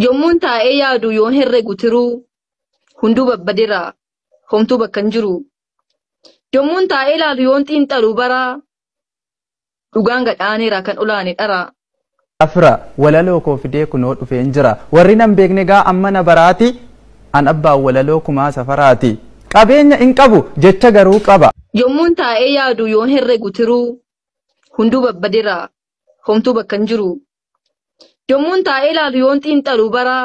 Yommuun taa'ee yaadu yoon herregu tiruu hunduu babbadeera homtuu bakka hin jiru. Yommuun taa'ee ilaalu yoon xiinxalu bara dhugaan gadhaaneera kan olaane dhara. Afra, walaloo koo fidee kunoo dhufeen jira. Warri nan beekne egaa amma na baraati. An abbaan walaloo kumaa safaraati. Qabeenya hin qabu jecha garuu qaba. Yommuun taa'ee yaadu yoon herregu tiruu hunduu babbadeera homtuu bakka hin jiru. Yommuun taa'ee ilaalu yoon xiinxalu bara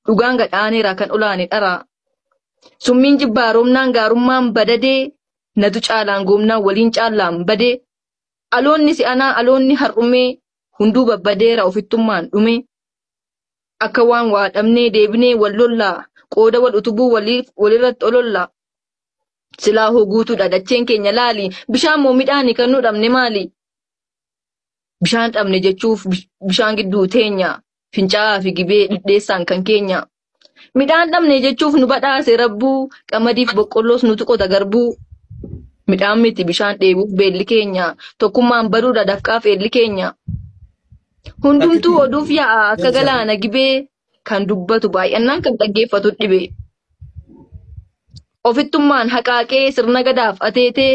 dhugaan gad aaneera kan olaane dhara. Summiin jibbaa roobnaan gaarummaan badadee natu caalaan goomnaan waliin caallaan badee. Aloonni si'anaa aloonni har'umee hunduu babbadeera ofittummaan dhume. Akka waan waa dhabnee deebinee wal lollaa qooda wal utubuu walirratti olollaa. Silaa hoo guutuudha dacheen keenya laali bishaan moo midhaani kan nu dhabne maali? bishaan dhabne jechuuf bish- bishaan gidduu teenya fincaa'aa fi gibee dhidheessaan kan keenya midhaan dhabne jechuuf nu badhaase rabbuu qamadiif boqqolloos nutu qota garbuu midhaan miti bishaan dheebuuf beelli keenya tokkummaan baduudha dafqaaf eelli keenya hundumtuu oduuf yaa'a akka galaana gibee kan dubbatu baay'annaan kan dhaggeeffatu dhibee ofittummaan haqaaqee sirna gadaaf ateetee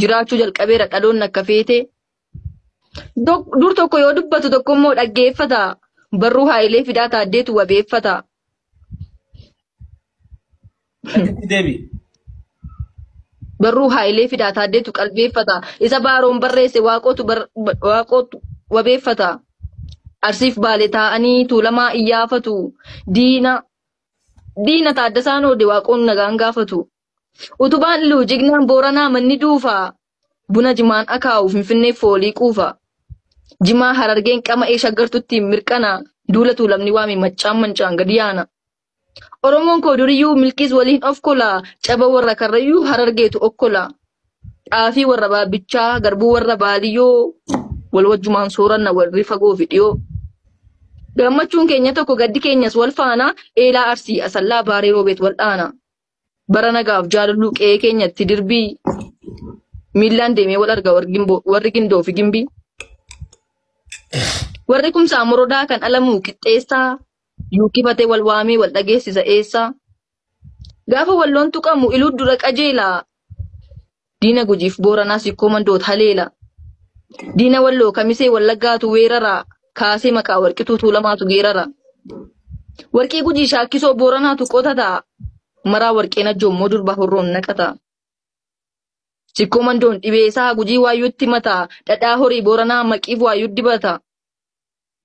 jiraachuu jalqabeera dhaloonni akka feete Dok- dur tokko yoo dubbatu tokko immoo dhaggeeffata barruu haayilee fidaa taaddeetu wabeeffata Akkatti deebi. barruu haayilee fidaa taaddeetu qalbeeffata isa baaroon barreesse waaqootu bar- ba- waaqootu wabeeffata arsiif baale taa'anii tuulamaa iyyaafatu diina diina taaddasaan oode waaqoon nagaan gaafatu Utubaan Iluu jignaan Booranaa manni duufaa Buna jimaan akaa'u Finfinnee foolii quufa Jimaa Harargeen qama'ee shaggartutti mirqana Duula Tuulamni waame maccaan mancaan gadi yaana Oromoon koo duriyyuu milkiis waliin of kola Caba warra karrayyuu Harargeetu okkola Xaafii warra baabbichaa garbuu warra baaliyyoo Wal wajjumaan sooranna warri fagoo fi dhiyoo Gammachuun keenya tokko gaddi keenyas wal faana Eelaa Arsii Asallaa Baarii Roobeet wal dhaana. bara nagaaf jaalalluu qe'ee keenyatti dirbii miillaan deemee wal arga warri Gimboo- warri gindoo fi gimbii. Warri kumsaa morodaa kan alamuu qixxeessaa yuukifatee wal waamee wal dhageessisa eessaa. Gaafa walloon tuqamu iluu dura qajeelaa Diina Gujiif Booranaa Sikkoo Mandoot haleela. Diina Walloo Kamisee Wallaggaatu weerara. Kaasee maqaa Warqituu Tuulamaatu geerara. Warqii Gujii Shaakkisoo Booranaatu qotata. Maraa Warqee Najjoo immoo durba horroon naqata. Sikkoo Mandoon dhibee isaa Gujii waayyuutti mata. Dhadhaa horii Booranaa maqiif waayyuu dibata.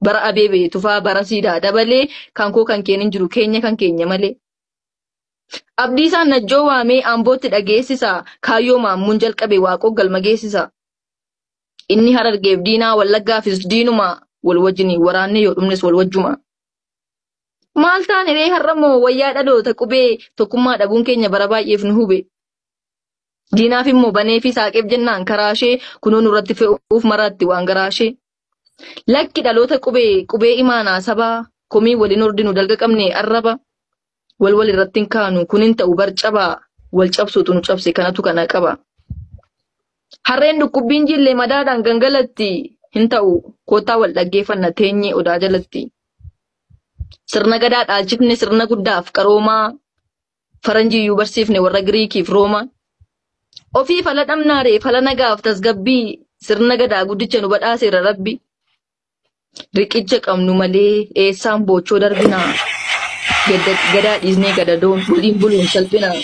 Bara Abeebee Tufaa bara Siidaa dabalee kan koo kan keen hin jiru keenya kan keenya malee. Abdiisaan Najjoo waamee Ambootti dhageessisa, kaayyoo Maammuun jalqabe Waaqoo galma geessisa. Inni Harargeef diinaa Wallaggaafis diinuma, wal wajjiniin waraannee yoo dhumnes wal wajjuma. Maal taane ree har'a moo wayyaa dhaloota qubee tokkummaa dhabuun keenya bara baay'eef nu hube. Diinaaf immoo banee fi saaqeef jennaan karaashee kunoo nurratti fe'uuf maraatti waan garaashee. Lakki dhaloota qubee qubee imaanaa sabaa komii waliin hordinu dalga qabne arraba wal wal irratti hin kaanu kun hin ta'u bar cabaa wal cabsuutu nu cabse kanatu kana qaba. Harreen dhukkubbiin jillee madaadhaan gangalatti hin ta'u koottaa wal dhaggeeffanna teenyee odaa jalatti. Sirna gadaa dhaalchifne sirna guddaaf qaroomaa faranjii iyyuu barsiifne warra Giriikiif Roomaa. Ofii fala dhabnaaree fala nagaaf tasgabbii sirna gadaa guddicha nu badhaaseera rabbi. Riqicha qabnu malee eessaan boochoo darbinaa. Gadda- Gadaa dhiisnee gadadoon waliin buluun salphinaa.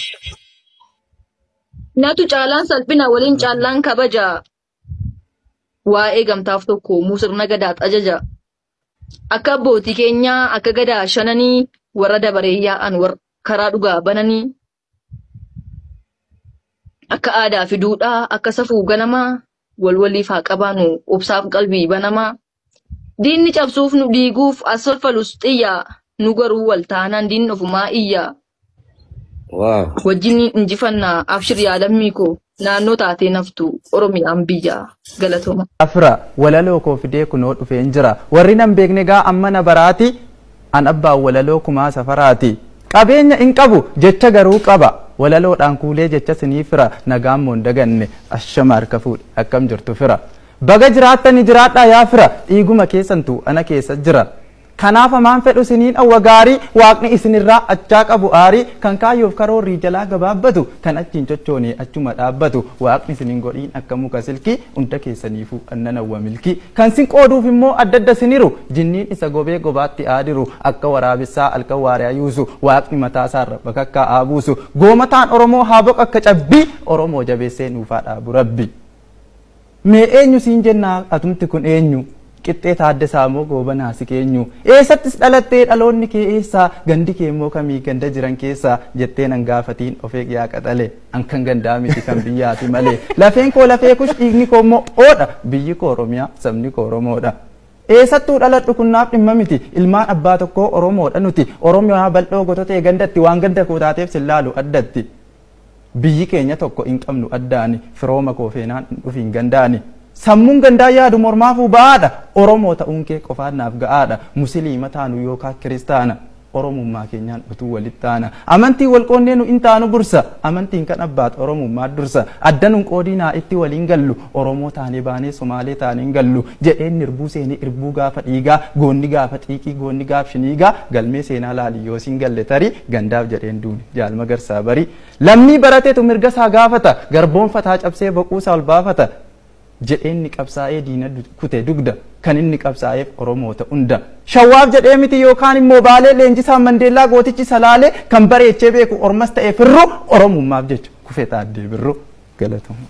Natu caalaan salphinaa waliin caallaan kabajaa. waa'ee gamtaaf tokko uumuu sirna gadaat ajaja. Akka abbootii keenyaa akka gadaa shananii warra dabaree yaa'an warra karaa dhugaa bananii akka aadaa fi duudhaa akka safuu ganamaa wal waliif haa qabaanu obsaaf qalbii banamaa. Diinni cabsuuf nu diiguuf as falfalus xiyyaa nu garuu wal taanaan diinni ofumaa iyyaa. Waaw. Wajjin injifannaa abshir yaa lammii koo naannoo taatee naftu Oromiyaan biyyaa galatooma. Afra walaloo koo fidee kunoo dhufeen jira warri nan beekne gaa amma na baraati an abbaan walaloo kumaa safaraati qabeenya hin qabu jecha garuu qaba walaloodhaan kuulee jecha sinii fira nagaan moon daganne ashama harka fuudhe akkam jirtu fira Baga jiraattani jiraadhaa yaa fira dhiiguma keessantu ana keessa jira Kanaaf amaan fedhu siniin awwa gaarii waaqni isinirraa achaa qabu aarii kan kaayyoof karoorrii jalaa gabaabbatu kan achiin chochoonee achuma dhaabbatu waaqni sinin godhiin akka muka silkii unda keessaniifuu an nan awwa milkii kan sin qooduuf immoo addadda siniru jinniin isa gobee gobaatti aadiru akka waraabessaa alkan waariyaa yuusu waaqni mataa isaarra bakakkaa aabuusu goomataan oromoo haaboq akka cabbii oromoo jabeessee nuufaa dhaabu rabbi. Mee eenyu siin jennaa atumti kun eenyu? Qixxee Taaddasaa moo Goobanaa si keenyu? Eessattis dhalattee dhaloonni kee eessa? Gandi kee immoo kami ganda jiran keessa? Jettee nan gaafatiin of eeg yaa qaxale. An kan gandaa miti kan biyyaati malee. Lafeen koo lafee kush dhiigni koo immoo oodha. Biyyi koo Oromiyaa sabni koo Oromoodha. Eessattuu dhaladhu kun naaf dhimma miti. Ilmaan abbaa tokkoo Oromoodha nuti. Oromiyaa bal'oo gototee gandatti waan ganda koo taateef sin laalu addatti. Biyyi keenya tokko hin qabnu addaani Firooma koo feenaan hin dhufiin gandaani Sammuun gandaa yaadu mormaafuu ba'aadha Oromoo ta'uun kee qofaan naaf ga'aadha Musiliima taanu yookaa kiristaana Oromummaa keenyaan utuu walitti taana Amantiin wal qoonnee nu hin taanu gursa Amantiin kan abbaat Oromummaa dursa Adda nun qoodiinaa itti waliin gallu Oromoo taanee baanee Somaalee taanee hin gallu jedheen nirbuu seenee irbuu gaafa dhiigaa goonni gaafa xiiqii goonni gaaf shiniigaa galmee seenaa laali yoo siin galle tarii gandaaf jedheen duune jaal magarsaa barii lammii baratetu mirga isaa gaafata garboonfataa cabsee boquu isaa ol baafata jedheen ni qabsaa'ee diina kute dugda kan inni qabsaa'eef oromoota hunda shawwaaf jedhee miti yookaan immoo baalee leenjisaan mandeellaa gootichi salaalee kan bareechee beeku ormas ta'ee firru oromummaaf jecha kufee taaddee birru galatoomaa.